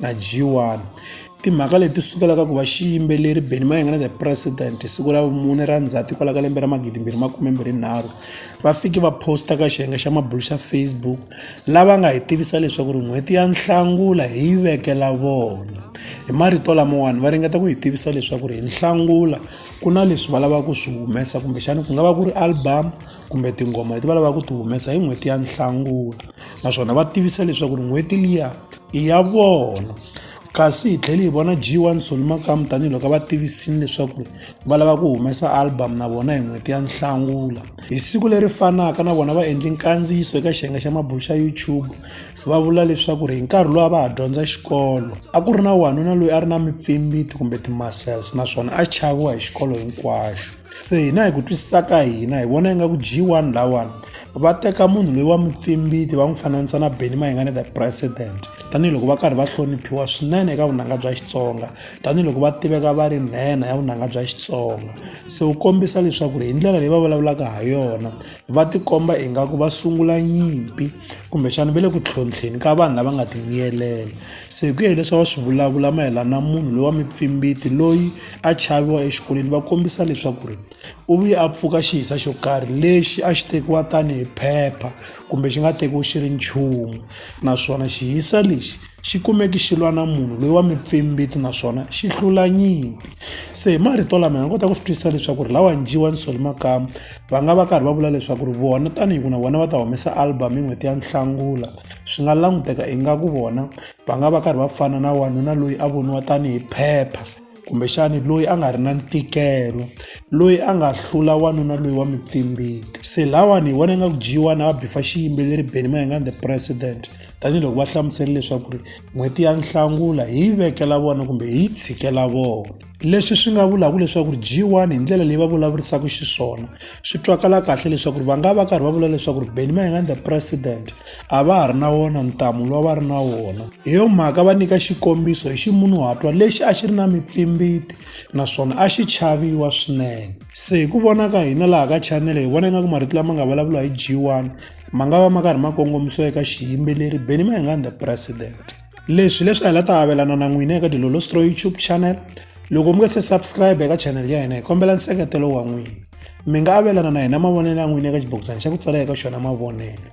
na G1. Timhaka leti sukelaka ku va xiyimbeleri Benny Mayengani the President hi siku ra vumune ra Ndzhati kwala ka lembe ra 2023 va fike va posta ka xiyenge xa mabulo xa Facebook lava nga hi tivisa leswaku ri n'hweti ya Nhlangula hi yi vekela vona. Hi marito lamawani va ringeta ku hi tivisa leswaku ri hi Nhlangula ku na leswi va lavaka ku swi humesa kumbexana ku nga va ku ri album kumbe tinghoma leti va lavaka ku ti humesa hi n'hweti ya Nhlangula. naswona va tivisa leswaku ri n'hweti liya i ya vona kasi hi tlhele hi vona g one soli makamu tanihiloko va tivisile leswaku ri va lava ku humesa album na vona hi n'hweti ya nhlangula hi siku leri fanaka na vona va endle nkandziyiso eka xiyenge xa mabulo xa youtube va vula leswaku ri hi nkarhi lowu a va ha dyondza xikolo a ku ri na wanuna loyi a ri na mipfimbiti kumbe ti-muscles naswona a chaviwa hi xikolo hinkwaxo se hina hi ku twisisa ka hina hi vona ingaku g one lawani va teka munhu loyi wa mupfimbiti va n'wi fananisa na beni mayingane the president tanihiloko va karhi va hloniphiwa swinene eka vunanga bya xitsonga tanihiloko va tiveka va ri nhenha ya vunanga bya xitsonga se wu kombisa leswaku ri hi ndlela leyi va vulavulaka ha yona va tikomba ingaku va sungula nyimpi kumbexana va le ku tlhontlheni ka vanhu lava nga timiyelela se hi ku ya hileswi va swi vulavula mayelana na munhu loyi wa mipfimbiti loyi a chaviwa exikolweni va kombisa leswaku ri u vuye a pfuka xiyisa xo karhi lexi a xi tekiwa tanihi phepha kumbe xi nga tekiwi xi ri nchumu naswona xiyisa lexi xi kumeke xi lwa na munhu loyi wa mupfimbiti naswona xi hlula nyimpi se hi marito lama hi nga kota ku swi twisisa leswaku ri lawa njiwa ni soli makamu va nga va karhi va vula leswaku ri vona tanihi ku na vona va ta humesa album hi n'hweti ya nhlangula swi nga languteka ingaku vona va nga va karhi va fana na wanuna loyi a voniwa tanihi phepha kumbexani loyi a nga ri na ntikelo loyi a nga hlula wanuna loyi wa mipfimbiti se lawani hi vona nga ku dyiwa na va bifa xiyimbeleri beni mayengani the president tanihiloko va hlamusele leswaku ri n'hweti ya nhlangula hi yi vekela vona kumbe hi yi tshikela vona leswi swi nga vulaka leswaku ri g1 hi ndlela leyi va vulavurisaka xiswona swi twakala kahle leswaku ri va nga va karhi va vula leswaku ri beni mayengani the president a va ha ri na wona ntamu lowu va ri na wona hi yo mhaka va nyika xikombiso hi ximunhuhatwa lexi a xi ri na mipfimbiti naswona a xi chaviwa swinene se hi ku vona ka hina laha ka chanele hi vona ingaku marito lama nga vulavula hi g1 ma nga va ma karhi ma kongomisiwa eka xiyimbeleri beni ma hi nga the president leswi leswi a hi la ta avelana na n'wina eka dilolostro youtube channel loko mi nga se subscribe eka channel ya hina hi kombela nseketelo wa n'wina mi nga avelana na hina mavonelo ya n'wina eka xibokisana xa ku tsala eka xona mavonelo